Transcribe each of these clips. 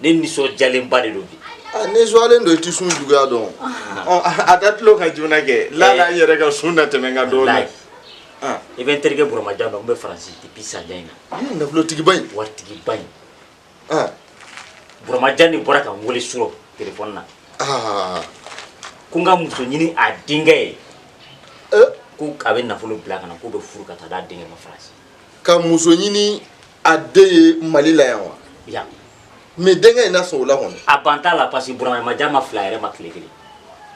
ne nisɔndiyalenba de don bi ah, ne zuwalen don i tɛ sun juguya dɔn ah. a da tulo kan joona kɛ lala n yɛrɛ ka sun na tɛmɛ n kan dɔɔni i ah. e bɛ n terikɛ buramajan dɔn n bɛ faransi depuis sanjan in na i ye nafolotigiba in waritigiba in buramajan de bɔra ka n wele surɔ telefɔni na ko n ka muso ɲini a denkɛ ye eh? ko a bɛ nafolo bila ka na k'u bɛ furu ka taa d'a denkɛ ma faransi ka muso ɲini a den ye mali la yan wa ya mais denkɛ in na sɔn o la kɔni a ban t'a la parce que buramajan ma fil'a yɛrɛ ma tile kelen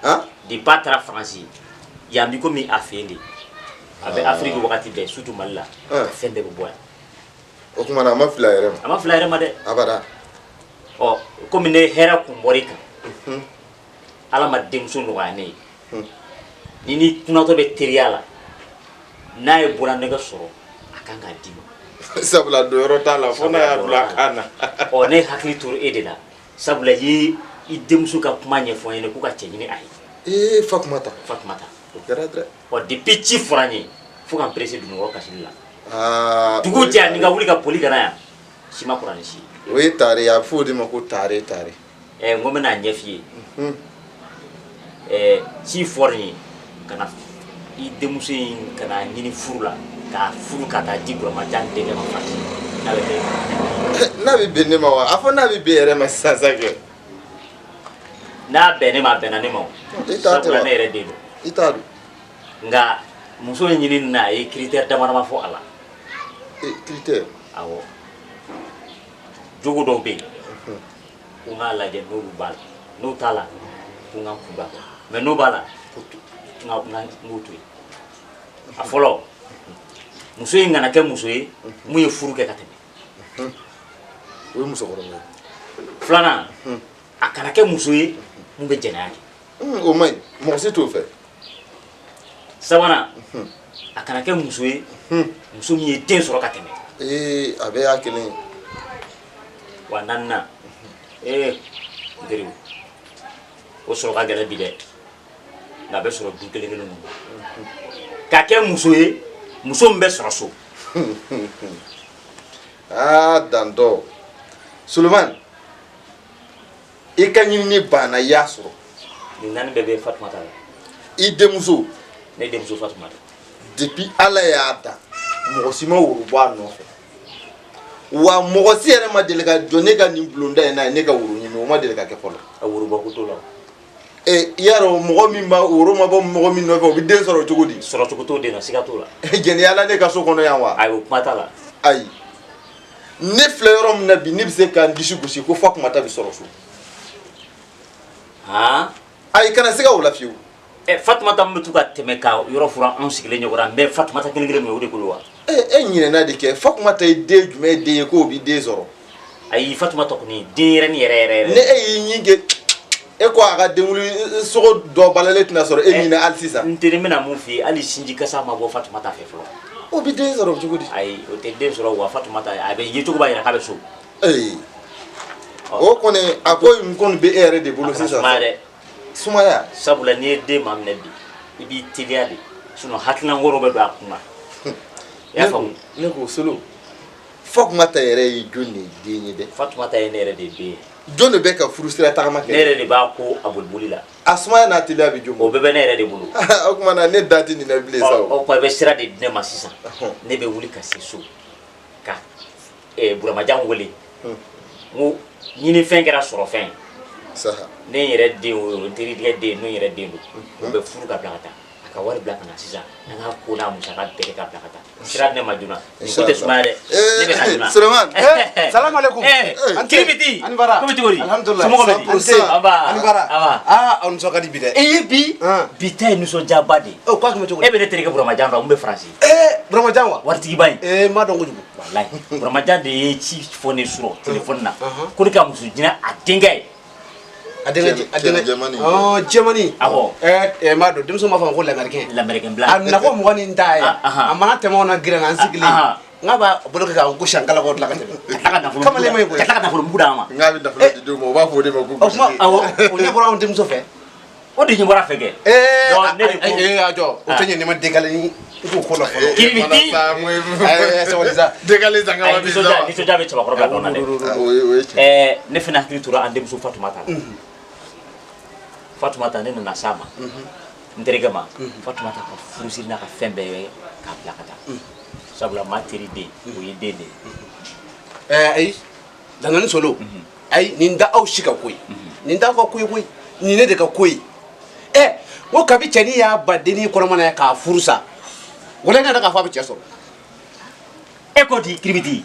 han depuis a taara faransi yan bi komi a fɛ yen de a bɛ Ah. afiriki wagati bɛɛ surtout mali la Ah. fɛn bɛɛ bɛ bɔ yan o tuma na a ma fil'a yɛrɛ ma a ma fil'a yɛrɛ ma dɛ abada ɔ komi ne hɛrɛ kun bɔr'i kan ala ma denmuso nɔgɔya ne ye hmm. ni ni kunatɔ bɛ teriya la n'a ye bololanɛgɛ sɔrɔ a kan k'a d'i ma sabula don yɔrɔ t'a la fo n'a y'a bila a kan na ɔ ne hakili tora e de la sabula i ye i denmuso ka kuma ɲɛfɔ n ye ko n ka cɛ ɲini a ye ee fatumata fatumata o kɛra dɛ ɔ depuis ci fɔra n ye fo ka n perese dunɔnkɔrɔ kasili la ah, dugu jɛ ni ka wuli ka boli ka na yan si ma kɔrɔ ni si ye o ye tare ye a bɛ fɔ o de ma ko tare tare ɛ n ko n bɛna a ɲɛf'i ye ɛ ci fɔra n ye ka na i denmuso in ka na ɲini furu la k'a furu ka taa di buramajan denkɛ ma faransi n'a bɛ bɛn n'a bɛ bɛn ne ma wa a fɔ n'a bɛ bɛn i yɛrɛ ma sisan sa kɛ n'a bɛn ne ma a bɛnna ne ma o I t'a tɛ wa? sabula ne yɛrɛ den don i t'a dɔn nka muso in ɲinini na a ye critère damadama fɔ a la ee critère awɔ jogo dɔw bɛ yen ko n k'a lajɛ n'olu b'a la n'o t'a la ko n ka kunba kɛ mais n'o b'a la ko n ka n k'o to yen a fɔlɔ muso in kana kɛ muso ye mun ye furu kɛ ka tɛmɛ o ye musokɔrɔba ye filanan a kana kɛ muso ye mun bɛ jɛnɛya kɛ o man ɲi mɔgɔ si t'o fɛ sabanan a kana kɛ muso ye muso min ye den sɔrɔ ka tɛmɛ ee a bɛɛ y'a kelen ye wa naaninan ee n teri o sɔrɔ ka gɛlɛn bi dɛ nka a bɛ sɔrɔ du kelen kelen ninnu ka kɛ muso ye muso min bɛ sɔrɔ so aa dantɔ solomani i ka ɲinini banna i y'a sɔrɔ nin naani bɛɛ bɛ fatumata la i denmuso ne denmuso fatumata depuis ala y'a dan mɔgɔ si ma woro bɔ a nɔfɛ wa mɔgɔ si yɛrɛ ma deli ka jɔ ne ka nin bulonda in na ye ne ka woro ɲini o ma deli ka kɛ fɔlɔ a worobɔ ko t'o la e i y'a dɔn mɔgɔ min ma woro ma bɔ mɔgɔ min nɔfɛ o bɛ den sɔrɔ cogo di sɔrɔ cogo t'o den na siga t'o la jɛnɛya la ne ka so kɔnɔ yan wa ayi o kuma t'a la ayi ne filɛ yɔrɔ min na bi ne bɛ se ka n disi gosi ko fatumata bɛ sɔrɔ so han ayi kana siga o la fiyewu ɛ fatumata min bɛ to ka tɛmɛ ka yɔrɔ furan anw sigilen ɲɛkɔrɔ n bɛ fatumata kelen kelen min o de bolo wa e e ɲinɛna de kɛ fatumata ye den jumɛn ye den ye k'o bɛ den sɔrɔ ayi fatumata kɔni denyɛrɛni yɛrɛ yɛrɛ yɛrɛ ni e y'i ɲin kɛ e ko a ka denkunli sogo dɔ balalen tɛna sɔrɔ e ɲin na hali sisan n teri n bɛna mun f'i ye hali sinji kasa ma bɔ fatumata fɛ fɔlɔ o bɛ den sɔrɔ cogo di ayi o tɛ den sɔrɔ wa fatumata a bɛ yecogo b'a yira k'a bɛ so ee o kɔni a ko in kɔni bɛ e yɛrɛ de bolo sisan sumaya dɛ sumaya sabula n'i ye den maminɛ bi i b'i teliya de sinɔn hakilina wɛrɛ bɛ don a kun na i y'a faamu ne ko solo fatumata yɛrɛ ye jɔni de ye den ye dɛ fatumata ye ne yɛrɛ de den ye jɔn de bɛ ka furusira tagama kɛ ne yɛrɛ de b'a ko a boliboli la a sumaya n'a teliya bɛ jɔn o bɛɛ bɛ ne yɛrɛ de bolo o tuma na ne da tɛ nin na bilen sa o tuma i bɛ sira de di ne ma sisan ne bɛ wuli ka se so ka eh, buramajan wele hmm. n ko ɲinifɛn kɛra sɔrɔfɛn ye ne yɛrɛ den o n terikɛ den n'o yɛrɛ den don hmm. o bɛ furu ka bila ka taa a ka wari bila ka na sisan an ka ko n'a musaka bɛɛ kɛ ka bila ka taa sira di ne ma joona nin ko tɛ sumaya dɛ ne bɛ na joona Suleman salamu aleykum Kiribiti ani baara komi cogo di alhamdulilayi somɔgɔw bɛ di an se nba ani baara nba aa aw nisɔn ka di bi dɛ e ye bi bi ta ye nisɔndiyaba de ye o k'a tun bɛ cogo di e bɛ ne terikɛ buramajan dɔn min bɛ faransi buramajan wa waritigiba in ee n b'a dɔn kojugu walayi buramajan de ye ci fɔ ne surɔ telefɔni na ko ne ka muso ɲini a denkɛ ye a denkɛ Jɛ- a denkɛ Jɛmani. ɔɔ jɛmani Awɔ. ɛɛ ɛɛ n b'a dɔn denmisɛnw b'a fɔ a ma ko l'américain l'américain blanc a nana ko mɔgɔ ni n ta ye Ah, aha. a mana tɛmɛ anw na gɛrɛn na an sigilen aha. n k'a b'a bolo kɛ k'a gosi an kala k'o tila ka tɛmɛ kamalen ma ye koyi ka tila ka nafolo mugu d'an ma n k'a bɛ nafolo d'anw ma u b'a fɔ o de ma ko o kuma gosili. awɔ o ɲɛ bɔra anw denmuso fɛ o de ɲɛ bɔra a fɛ kɛ ee Donc, ne de ko- a- ee, a jɔ o tɛ ɲɛ n'i ma dekale ni i t'o ko la fɔlɔ Kiribiti. Ee, sabali sa dekale zanga Ayi, wa bi nisɔndiya zanga nisɔndiya bɛ cɛbakɔrɔba dɔn na dɛ Ah, o ye o ye tiɲɛ Ɛɛ, ne fana hakili tora an denmuso fatumata la fatumata ne nana a sama n terikɛ ma fatumata ka furusiri n'a ka fɛn bɛɛ k'a bila ka taa sabula maa teri den o ye den de ye Ɛɛ, ayi dangaden solo ayi nin t'aw si ka ko ye nin t'aw ka ko ye koyi nin ne de ka ko ye ɛ ko kabi cɛnin y'a ba denin kɔnɔma na a y'a ka furu sa wala ne ka fa bɛ cɛ sɔrɔ e ko di Kiribiti